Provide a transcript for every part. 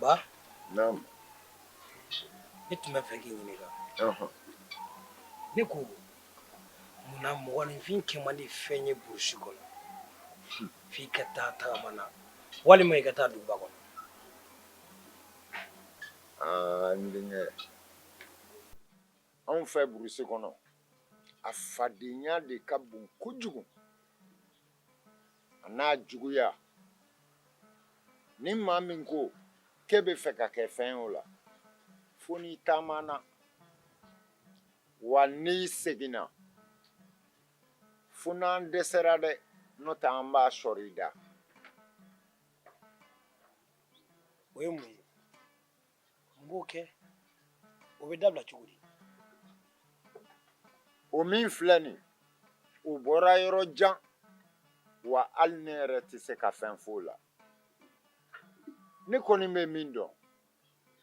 Ba? Na'am. Ne tun bɛ fɛ k'i ɲininka. Ɔhɔn. Ne ko mun na mɔgɔninfin kɛ man di fɛn ye burusi kɔnɔ f'i ka taa tagama na walima i ka taa duguba kɔnɔ? Aa n denkɛ anw fɛ burusi kɔnɔ a fadenya de ka bon kojugu a n'a juguya ni maa min ko k'e bɛ fɛ ka kɛ fɛn o la fo n'i taamana wa n'i seginna fo n'an dɛsɛra dɛ n'o tɛ an b'a sɔrɔ i da o ye mun ye n b'o kɛ o bɛ dabila cogo di o min filɛ nin o bɔra yɔrɔ jan wa hali ne yɛrɛ tɛ se ka fɛn f'o la ne kɔni bɛ min dɔn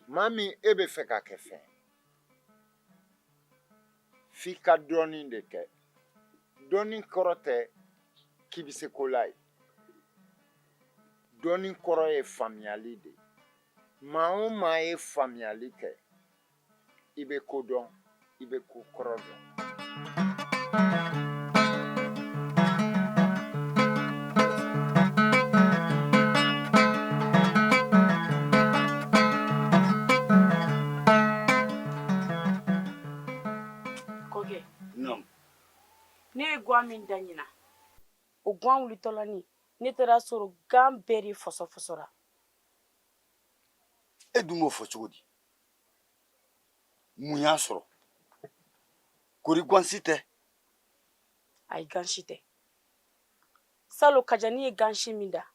maa min e bɛ fɛ ka kɛ fɛn f'i ka dɔnni de kɛ dɔnni kɔrɔ tɛ k'i bɛ se ko la ye dɔnni kɔrɔ ye faamuyali de ye maa o maa ye faamuyali kɛ i bɛ ko dɔn i bɛ ko kɔrɔ dɔn ne ye gan min dan ɲinan o gan wulitɔlɔni ne taara sɔrɔ gan bɛɛ de fɔsɔfɔsɔra e dun b'o fɔ cogo di mun y'a sɔrɔ kori gansi tɛ ayi gansi tɛ salon kajani ye gansi min dan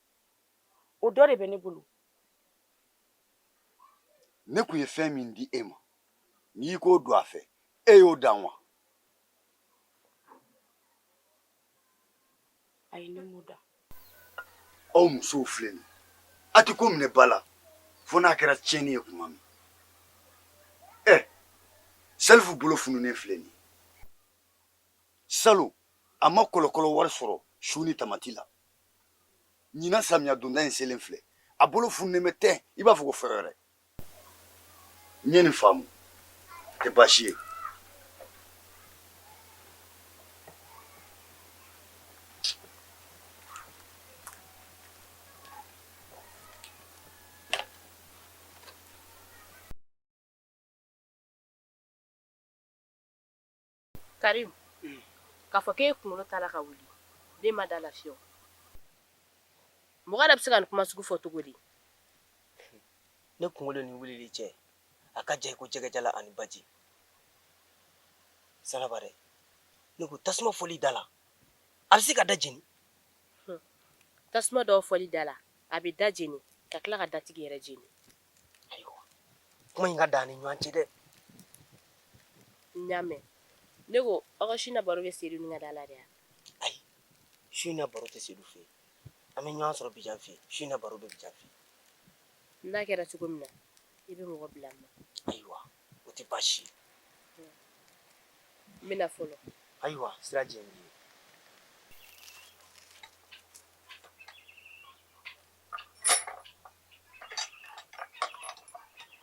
o dɔ de bɛ ne bolo ne kun ye fɛn min di e ma n'i k'o don a fɛ e y'o dan wa ayi ne m'o dan aw musow filɛ nin a tɛ ko minɛ ba la fo n'a kɛra tiɲɛni ye tuma min ɛ salifu bolo fununen filɛ nin salon a ma kɔlɔkɔlɔ wari sɔrɔ su ni tamati la ɲinan samiya donda in selen filɛ a bolo fununen bɛ ten i b'a fɔ ko fɛn wɛrɛ n ye nin faamu tɛ baasi ye Karimu, un, k'a fɔ k'e kunkolo t'a la ka wuli, ne ma d'a la fiyewu, mɔgɔ yɛrɛ bɛ se ka nin kuma sugu fɔ cogo di? Ne kunkolo ni wulili cɛ, a ka jan i ko jɛgɛjalan ani baji. Salabare, ne ko tasuma fɔli da la, a bɛ se ka da jeni? Hun, tasuma dɔ fɔli da la, a bɛ da jeni ka tila ka datigi yɛrɛ jeni. ayiwa kuma in ka dan an ni ɲɔgɔn cɛ dɛ n y'a mɛn ne ko aw ka su na baro bɛ sedu ni ka da la de ayi su na baro tɛ sedu fɛ an bɛ ɲɔgɔn sɔrɔ bijan fɛ su na baro bɛ bijan fɛ n'a kɛra cogo min na i bɛ mɔgɔ bila n ma ayiwa o tɛ baasi ye n bɛna fɔlɔ ayiwa sira jɛ ye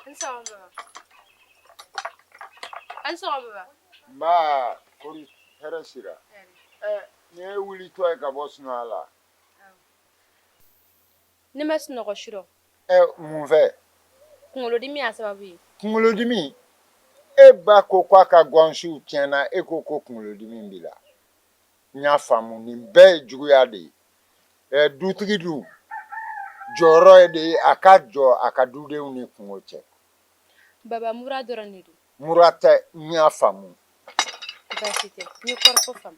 A ni sɔgɔma baba. A ni sɔgɔma baba. Nba kori hɛrɛ sira. Hɛrɛ. Ɛ nin y'i wulitɔ ye ka bɔ sunɔgɔ la. Ne ma sunɔgɔ su rɔ. Ɛ mun fɛ? Kunkolodimi y'a sababu ye. Kunkolodimi? E ba ko k'a ka gɔnsiw tiɲɛna e ko ko kunkolodimi b'i la. N y'a faamu nin bɛɛ ye juguya de ye. dutigi dun jɔyɔrɔ y'o de ye a ka jɔ a ka dudenw ni kunko cɛ baba mura dɔrɔn de don mura tɛ n y'a faamu baasi tɛ n ye kɔrɔfɔ faamu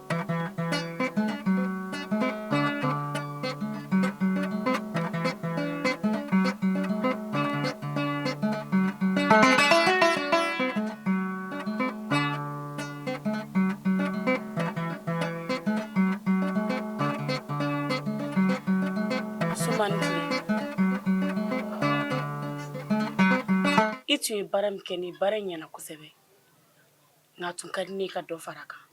I tun ye baara min kɛ ni baara in ɲɛna kosɛbɛ nka a tun ka di n ye i ka dɔ fara a kan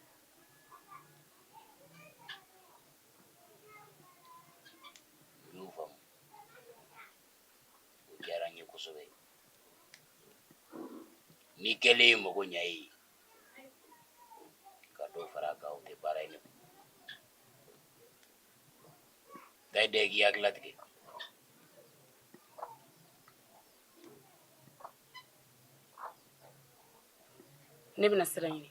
Nin kɛlen ye mago ɲɛ ye ka dɔ fara a kan o tɛ baara ye nka i da k'i hakili latigɛ ne bɛna sira ɲini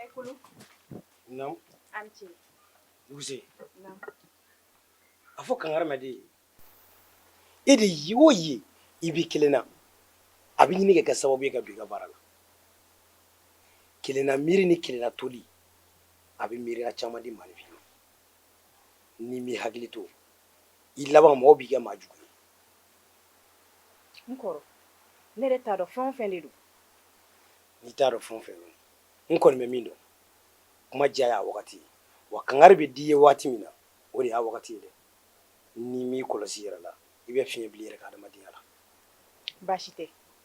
Eh, Kulu. Naamu. A ni ce. Duguse. Naamu. A fɔ kankaramaden ye e de ye o ye i b'i kelen na a bɛ ɲini ka kɛ sababu ye ka bɔ i ka baara la kelenna miiri ni kelenna toli a bɛ miiriya caman di maa ma n'i m'i hakili to i laban mɔgɔ b'i kɛ maa jugu ye n kɔrɔ ne yɛrɛ t'a dɔn fɛn o fɛn de don n'i t'a dɔn fɛn o fɛn don n kɔni bɛ min dɔn kuma diya y'a wagati ye wa kangari bɛ d'i ye waati min na o de y'a wagati ye dɛ n'i m'i kɔlɔsi i yɛrɛ la i bɛ fiɲɛ bila i yɛrɛ ka adamadenya la baasi tɛ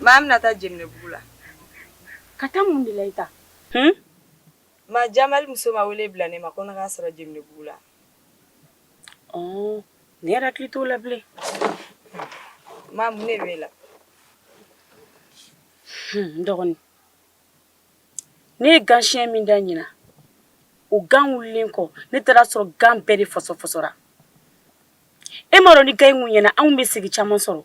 Maa bɛna taa Jɛmɛnɛbugu la ka taa mun de la i ta ma jama muso ma wele bila ne ma ko ne k'a sɔrɔ Jɛmɛnɛbugu la ne yɛrɛ hakili t'o la bilen ma mun de b'i la dɔgɔnin ne ye ganyɛn min dan ɲinan o gan wulilen kɔ ne taara sɔrɔ gan bɛɛ de fɔsɔfɔsɔra e m'a dɔn ni gan in ɲɛna anw bɛ segi caman sɔrɔ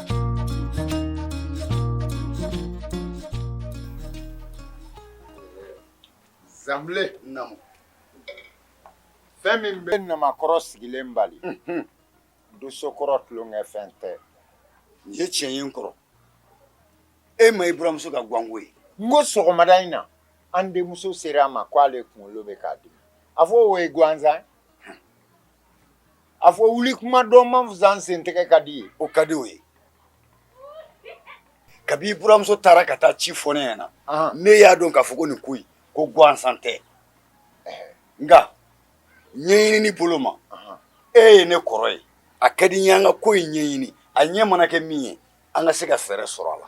Zanbilen fɛn min bɛ namakɔrɔ sigilen bali dosokɔrɔ tulonkɛ fɛn tɛ nin ye tiɲɛ ye n kɔrɔ e ma i buranmuso ka ganko ye n ko sɔgɔmada in na an denmuso sera a ma k'ale kunkolo bɛ k'a dimi a fɔ o ye gansan a fɔ wuli kuma dɔn man fisa sen tɛgɛ ka di ye o ka di o ye kabi i buranmuso taara ka taa ci fɔ ne ɲɛna ne y'a dɔn k'a fɔ ko nin ko in ko gansan tɛ nka ɲɛɲinini bolo ma e ye ne kɔrɔ ye a ka di n ye an ka ko in ɲɛɲini a ɲɛ mana kɛ min ye an ka se ka fɛɛrɛ sɔrɔ a la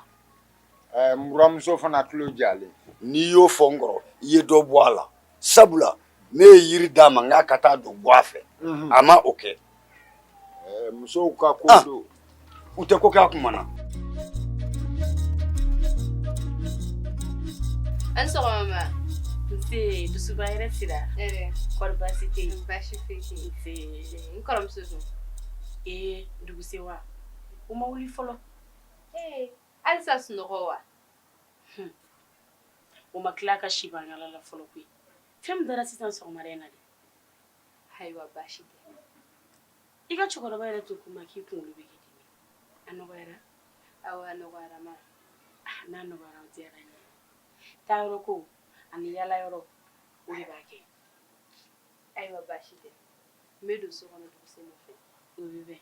Ɛɛ buranmuso fana tulo jalen n'i y'o fɔ n kɔrɔ i ye dɔ bɔ a la sabula ne ye yiri d'a ma n k'a ka taa dɔ bɔn a fɛ a ma o kɛ musow ka ko don u tɛ ko kɛ a tuma na an dusuba yɛrɛ sira baasi baasi n muso ee duguba u ma wuli fɔlɔ halisa sunɔgɔ wa hmm. o ma tila ka si bangala la fɔlɔ koyi fɛn min dara sisan sɔgɔmada in na dɛ ayiwa baasi tɛ i ka cɛkɔrɔba yɛrɛ tun ko n ma k'i kunkolo bɛ k'i dimi a nɔgɔyara awa a nɔgɔyara ma ah, n'a nɔgɔyara o diyara n ye taa yɔrɔ ko ani yala yɔrɔ o de b'a kɛ ayiwa baasi tɛ n bɛ don so kɔnɔ dugusɛ nɔfɛ o bɛ bɛn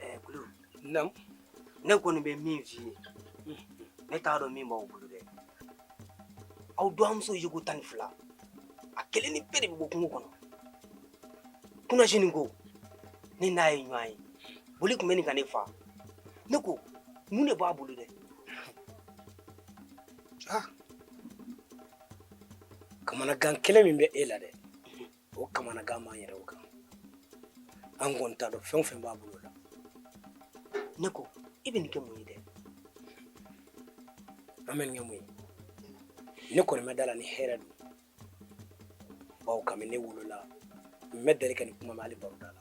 ɛɛ kulun naamu ne kɔni bɛ min f'i ye ne t'a dɔn min b'aw bolo dɛ aw dɔgɔmuso yeko tan ni fila a kelennin bɛɛ de bɛ bɔ kungo kɔnɔ kunasini kɔ ne n'a ye ɲɔgɔn ye boli tun bɛ ɲini ka ne fa ne ko mun de b'a bolo dɛ kamanagan kelen min bɛ e la dɛ o kamanagan b'an yɛrɛw kan an kɔni t'a dɔn fɛn o fɛn b'a bolo la ne ko i bɛ nin kɛ mun ye dɛ an bɛ nin kɛ mun ye ne kɔni ma da a la ni hɛrɛ don bawo kabini ne wolola n ma deli ka nin kuma mɛn hali baro da la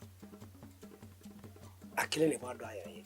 a kelen de b'a dɔn a yɛrɛ ye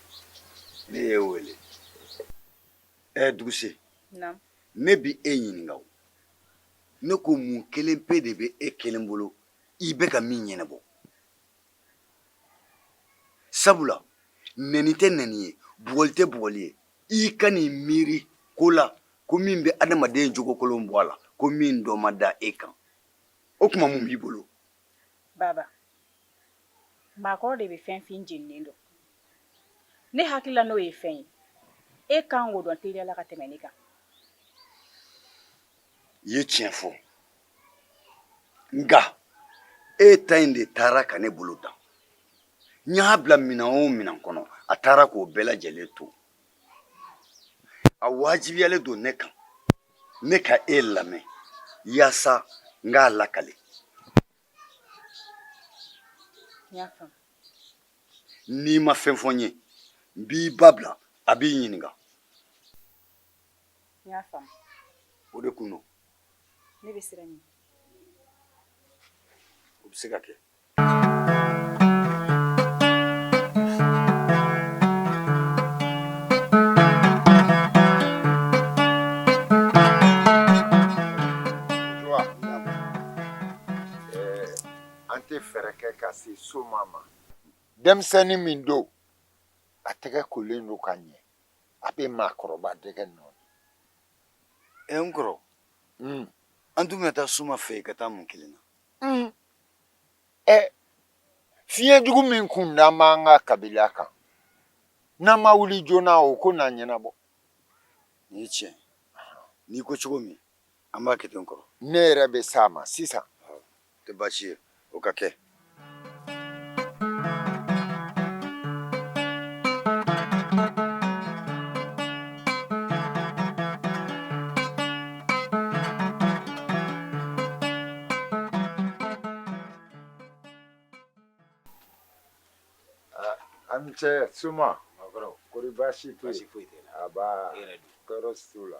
ne y'e wele ɛ duguse ne bi e ɲininka o ne ko mun kelen pe de bɛ e kelen bolo i bɛ ka min ɲɛnabɔ sabula nɛni tɛ nɛni ye bugɔli tɛ bugɔli ye i ka n'i miiri ko la ko min bɛ adamaden jogokolon bɔ a la ko min dɔ ma da e kan o tuma mun b'i bolo baba Maakɔrɔ de bɛ fɛn fin jeninen dɔn ne hakilila n'o ye fɛn ye e ka kan k'o dɔn teliya la ka tɛmɛ ne kan i ye tiɲɛ fɔ nka e ta in de taara ka ne bolo dan n y'a bila minɛn o minɛn kɔnɔ a taara k'o bɛɛ lajɛlen to a wajibiyalen don ne kan ne ka e lamɛn yaasa n k'a lakale n y'a faamu n'i ma fɛn fɔ n ye n b'i ba bila a b'i ɲininka n y'a faamu o de kun don ne bɛ siran i ɲɛ o bɛ se ka kɛ An tɛ fɛɛrɛ kɛ ka se soma ma denmisɛnnin min don a tɛgɛ kolen don ka ɲɛ a bɛ maakɔrɔba dɛgɛ nɔɔni e n kɔrɔ an dun bɛ taa soma fɛ yen ka taa mun kelen na ɛ fiɲɛ jugu min kun da b'an ka kabila kan n'an ma wuli joona o ko n'an ɲɛnabɔ nin ye tiɲɛ n'i ko cogo min An b'a kɛ ten kɔrɔ ne yɛrɛ bɛ sa ma sisan tɛ baasi ye o ka kɛ an cɛ suma kori baasi foyi tɔɔrɔ la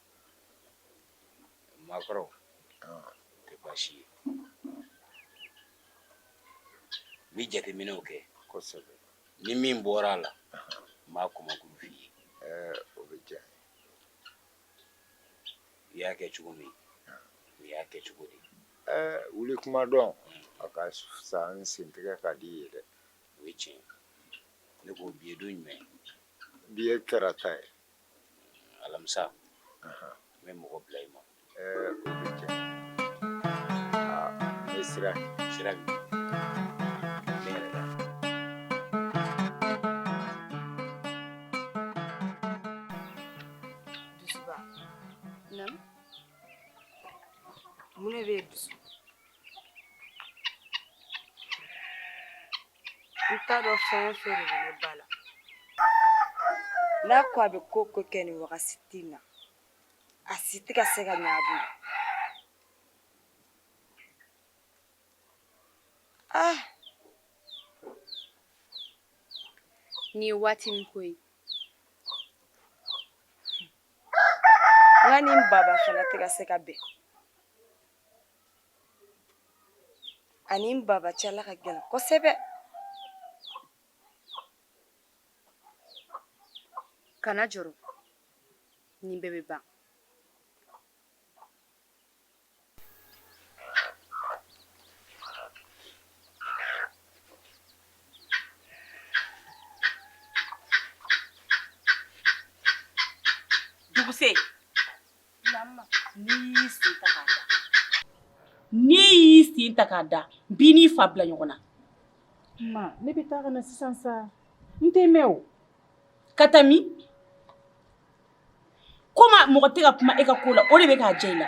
maakɔrɔ tɛ baasi ye n bɛ jateminɛw kɛ kosɛbɛ ni min bɔra a la n b'a kɔmakulu f'i ye o bɛ diya i y'a kɛ cogo min u y'a kɛ cogo di wuli kuma dɔn a ka fisa ni sentigɛ ka di ye dɛ o ye tiɲɛ ne ko bi ye don jumɛn bi ye tarata ye alamisa n bɛ mɔgɔ bila i ma sira sira mun bɛ dusu n t'a dɔn fɛn o fɛn de bɛ ne ba la n'a ko a bɛ ko o ko kɛ nin wagati in na a si tɛ ka se ka ɲɛ a bolo ah nin ye waati min ko ye n ba ni n baba fana tɛ ka se ka bɛn a ni n baba cɛla ka gɛlɛn kosɛbɛ kana jɔrɔ nin bɛɛ bɛ ban duguse N'i y'i sen ta k'a da b'i n'i fa bila ɲɔgɔn na ne bɛ taa ka na sisan sa n tɛ mɛn o ka taa min ko mɔgɔ tɛ ka kuma e ka ko la o de bɛ k'a jɛ i la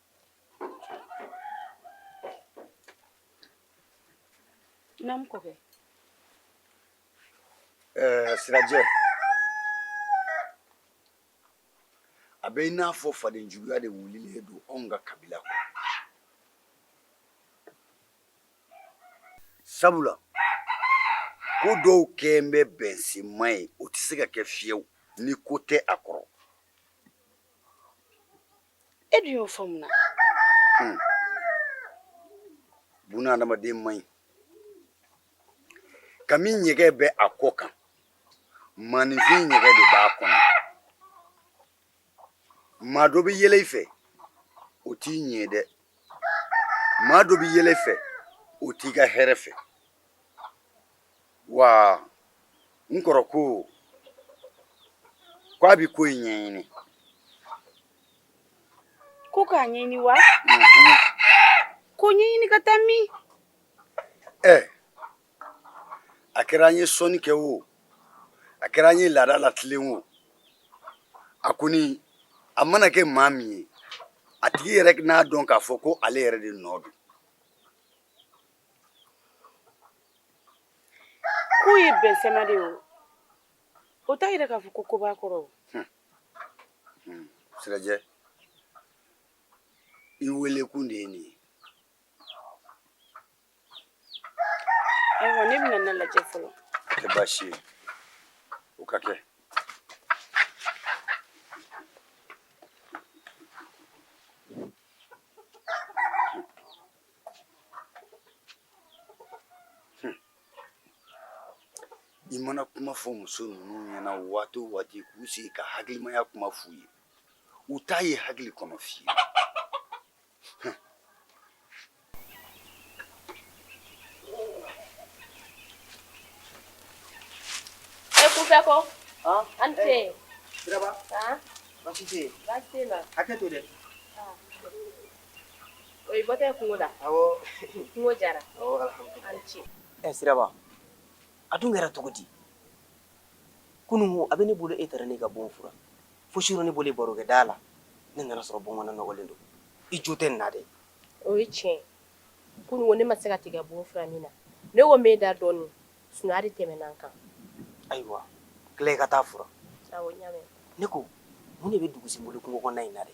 na mko ke eh sirajɛ a bɛ i n'a fɔ fadenjuguya de wulilen don anw ka kabila kɔnɔ sabula ko dɔw kɛlen bɛ bɛnsenma ye o tɛ se ka kɛ fiyewu ni ko tɛ a kɔrɔ e dun y'o fɔ mun na hmm. buna adamaden man ɲi kami ɲɛgɛn bɛ a kɔ kan maaninfin ɲɛgɛn de b'a kɔnɔ maa dɔ bɛ yɛlɛ i fɛ o t'i ɲɛ dɛ maa dɔ bɛ yɛlɛ i fɛ o t'i ka hɛrɛ fɛ wa n kɔrɔ ko ko a bɛ ko in ɲɛɲini ko k'a ɲɛɲini wa mhm. ko ɲɛɲini ka taa min ɛ a kɛra an ye sɔnni kɛ o a kɛra an ye laada latilen o a kɔni a mana kɛ maa min ye a tigi yɛrɛ n'a dɔn k'a fɔ ko ale yɛrɛ de nɔ don K'u ye bɛn sɛma de ye o o t'a yira k'a fɔ ko ko b'a kɔrɔ o sirajɛ i weelekun de ye nin ye ayiwa ne bɛna na lajɛ fɔlɔ tɛ baasi ye o ka kɛ I mana kuma fɔ muso ninnu ɲɛna waati o waati k'u sigi ka hakilimaya kuma f'u ye u t'a ye hakili kɔnɔ fiyewu e kunfɛ ko an tɛ yen siraba baasi tɛ yen hakɛ to dɛ O ye bɔtɛ kungo la kungo jara ce ɛ siraba a dun kɛra cogo di kunun a bɛ ne bolo e taara ne ka bon furan fo surɔ ne bɔlen barokɛ da la ne nana sɔrɔ bon kɔnɔna nɔgɔlen don i jo tɛ na dɛ o ye tiɲɛ kunun ne ma se ka t'i ka bon furan min na ne ko n bɛ n da dɔɔnin sunɔgɔ de tɛmɛna n kan ayiwa teliya ka t'a furan ne ko mun de bɛ dugusi bolo kungo kɔnɔna in na dɛ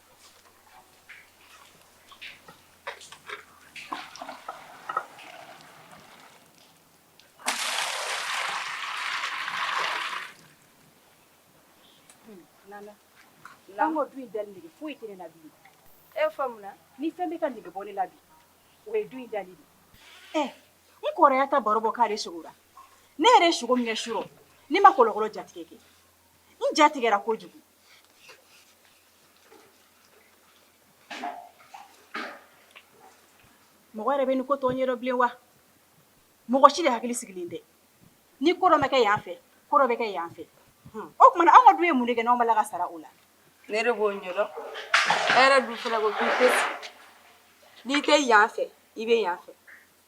an ka du in dali nege foyi tɛ ne la bilen e fa mun na ni fɛn bɛ ka nege bɔ ne la bi o ye du in dali de ye eh, n kɔrɔ y'a ta baro bɔ k'ale sogora ne yɛrɛ sogo min kɛ surɔ ne ma kɔlɔkɔlɔ jatigɛ kɛ n jatigɛra kojugu mɔgɔ yɛrɛ bɛ nin ko tɔ ɲɛdɔn bilen wa mɔgɔ si de hakili sigilen tɛ ni ko dɔ ma kɛ yan fɛ ko dɔ bɛ kɛ yan fɛ hmm. o tuma na anw ka du ye mun de kɛ n'anw b'a la ka sara o la ne de b'o ɲɛdɔn e yɛrɛ dun fana ko k'i tɛ n'i tɛ yan fɛ i bɛ yan fɛ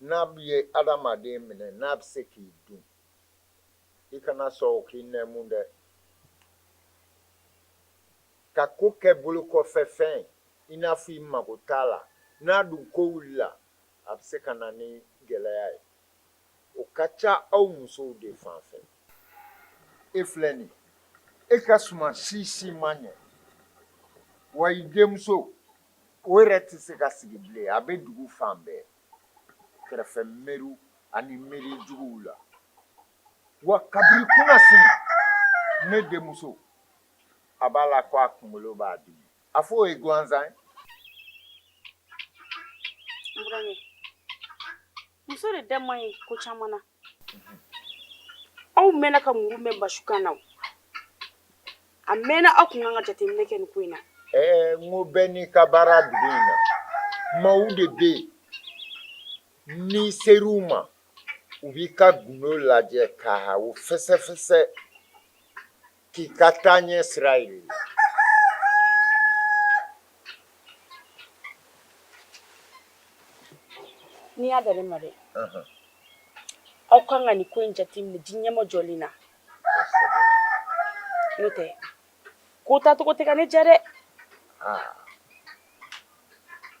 N'a bɛ ye adamaden minɛ n'a bɛ se k'i dun i kana sɔn o k'i nɛɛmu dɛ ka ko kɛ bolokɔfɛfɛn ye i n'a fɔ i mago t'a la n'a dun ko wulila a bɛ se ka na ni gɛlɛya ye o ka ca aw musow de fan fɛ e filɛ nin e ka suma si si ma ɲɛ wa i denmuso o yɛrɛ tɛ se ka sigi bilen a bɛ dugu fan bɛɛ kɛrɛfɛ mɛriw ani mɛri juguw la wa kabini kunasini ne denmuso a b'a la ko a kunkolo b'a dimi a fɔ o ye gansan ye muso de da man ɲi ko caman na Aw mɛnna ka mun mɛn basi na a mɛnna aw tun ka kan ka jateminɛ kɛ ko in na n bɛ n'i ka baara dugu in na maaw de bɛ yen n'i sera u ma u b'i ka dunun lajɛ k'a fɛsɛfɛsɛ Kikatanye Israeli. N'i y'a dalen ma dɛ aw kan ka nin ko in jateminɛ di ɲɛmɔ jɔlen na n'o tɛ ko taacogo tɛ ka ne jɛ dɛ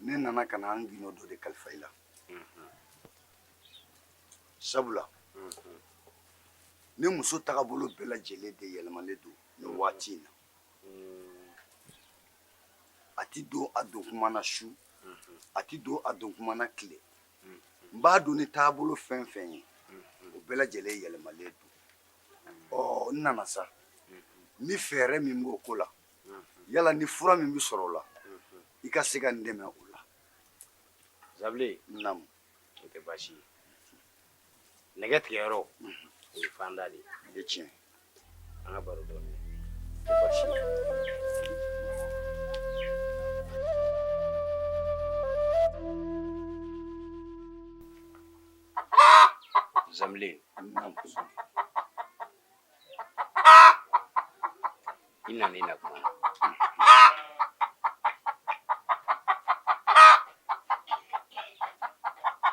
ne nana ka na n gundo dɔ de kalifa i la sabula ne muso tagabolo bɛɛ lajɛlen de yɛlɛmalen don nin waati in na a ti don a don kuma na su a ti don a don kuma na tile n b'a dɔn ni taabolo fɛn fɛn ye o bɛɛ lajɛlen yɛlɛmalen don ɔ n nana sa ni fɛɛrɛ min b'o ko la yala ni fura min bɛ sɔrɔ o la i ka se ka n dɛmɛ o la zabile namu o tɛ baasi ye nɛgɛ tigɛ yɔrɔ o ye fanda de ye tiɲɛ an ka baro dɔɔni zamile i nana i na kuma na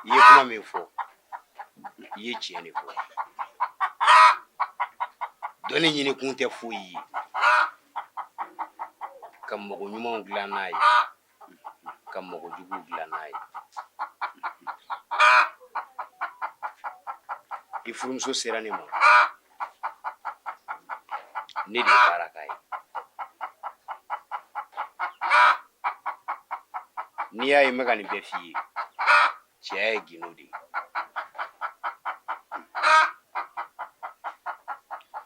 i ye kuma min fɔ i ye tiɲɛ de fɔ dɔnni ɲini kun tɛ foyi ye ka mɔgɔ ɲuman dilan n'a ye ka mɔgɔ jugu dilan n'a ye i furumuso sera ne ma ne de ye baara k'a ye n'i y'a ye n bɛ ka nin bɛɛ f'i ye cɛya ye gindo de ye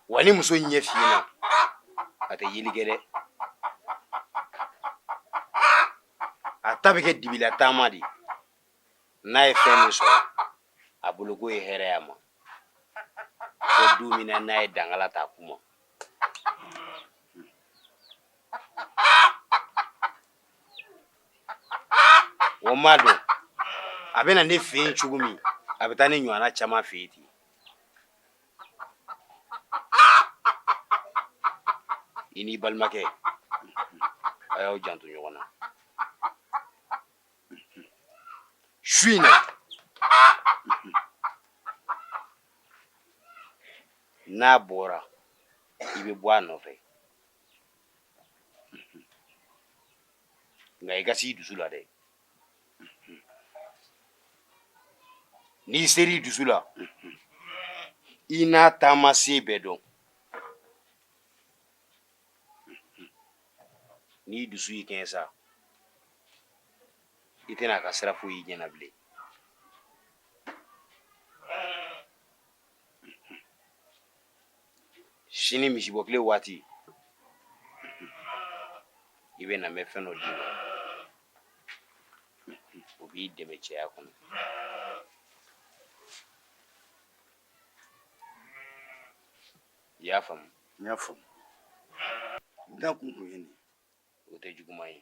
wa ni muso ɲɛ fiyena a tɛ yeli kɛ dɛ a ta bɛ kɛ dibila taama de ye n'a ye fɛn min sɔrɔ a bolo k'o ye hɛrɛ y'a ma fo don min na n'a ye dangala ta ku ma O ma dɔn a bɛ na ne fɛ yen cogo min a bɛ taa ne ɲɔgɔn caman fɛ yen ten i n'i balimakɛ a y'aw janto ɲɔgɔn na su in na n'a bɔra i bɛ bɔ a nɔfɛ nka i ka s'i dusu la dɛ n'i ser'i dusu la i n'a taama sen bɛɛ dɔn n'i dusu y'i kɛɲɛ sa i tɛna a ka sira foyi y'i ɲɛ na bilen sini misibɔ kile waati i bɛ na n bɛ fɛn dɔ d'i ma o b'i dɛmɛ cɛya kɔnɔ i y'a faamu n y'a faamu n da kun kun ye nin o tɛ juguman ye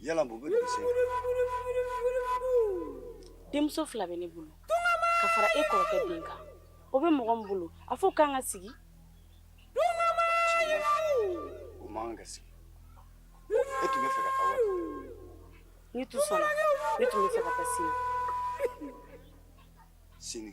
Yala bɛ denmuso fila bɛ ne bolo ka fara e kɔrɔkɛ den kan o bɛ mɔgɔ min bolo a fo k'an ka sigi ka sigi e tun fɛ ka taa ne tun ne tun fɛ ka taa sini sini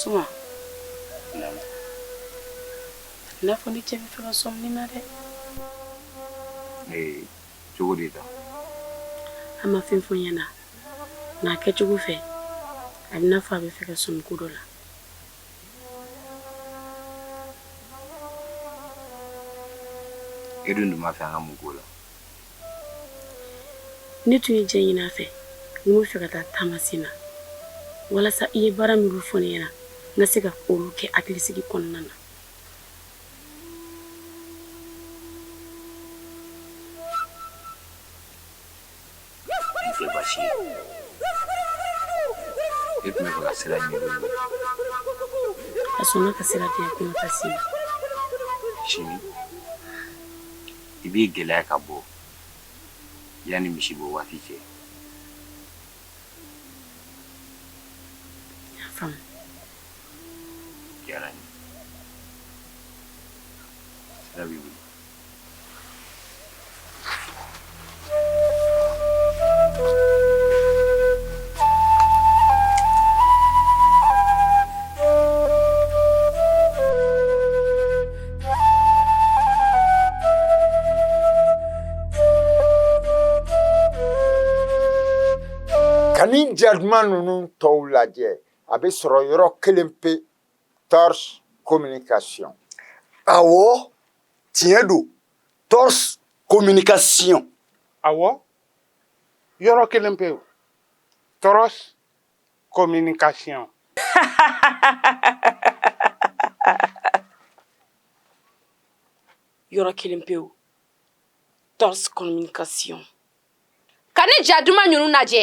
Suma. Naam. A bɛ n'a fɔ ne cɛ bɛ fɛ ka sɔmi n na dɛ. Ee, cogo di sa? A ma fɛn fɔ n ɲɛna. Nka a kɛcogo fɛ, a bɛ n'a fɔ a bɛ fɛ ka sɔmi ko dɔ la. E dun tun b'a fɛ an ka mun k'o la? ne tun ye jɛn ɲini a fɛ n bɛ fɛ ka taa taamasen na walasa i ye baara minnu fɔ ne ɲɛna n ka se ka olu kɛ hakilisigi kɔnɔna na ne tun bɛ fɛ ka sira ɲini a sɔnna ka sira di yan ko n ka taa se yen sini i b'i gɛlɛya ka bɔ yanni misi bɔ waati cɛ diyara n ye Ka nin ja duman ninnu tɔw lajɛ a bɛ sɔrɔ yɔrɔ kelen pe tɔrɔs communication awɔ tiɲɛ don tɔɔrɔ komini ka si a yɔrɔ kelen pe tɔɔrɔ komini ka si yɔrɔ kelen pe tɔɔrɔ ka si ka ne ja duman ninnu lajɛ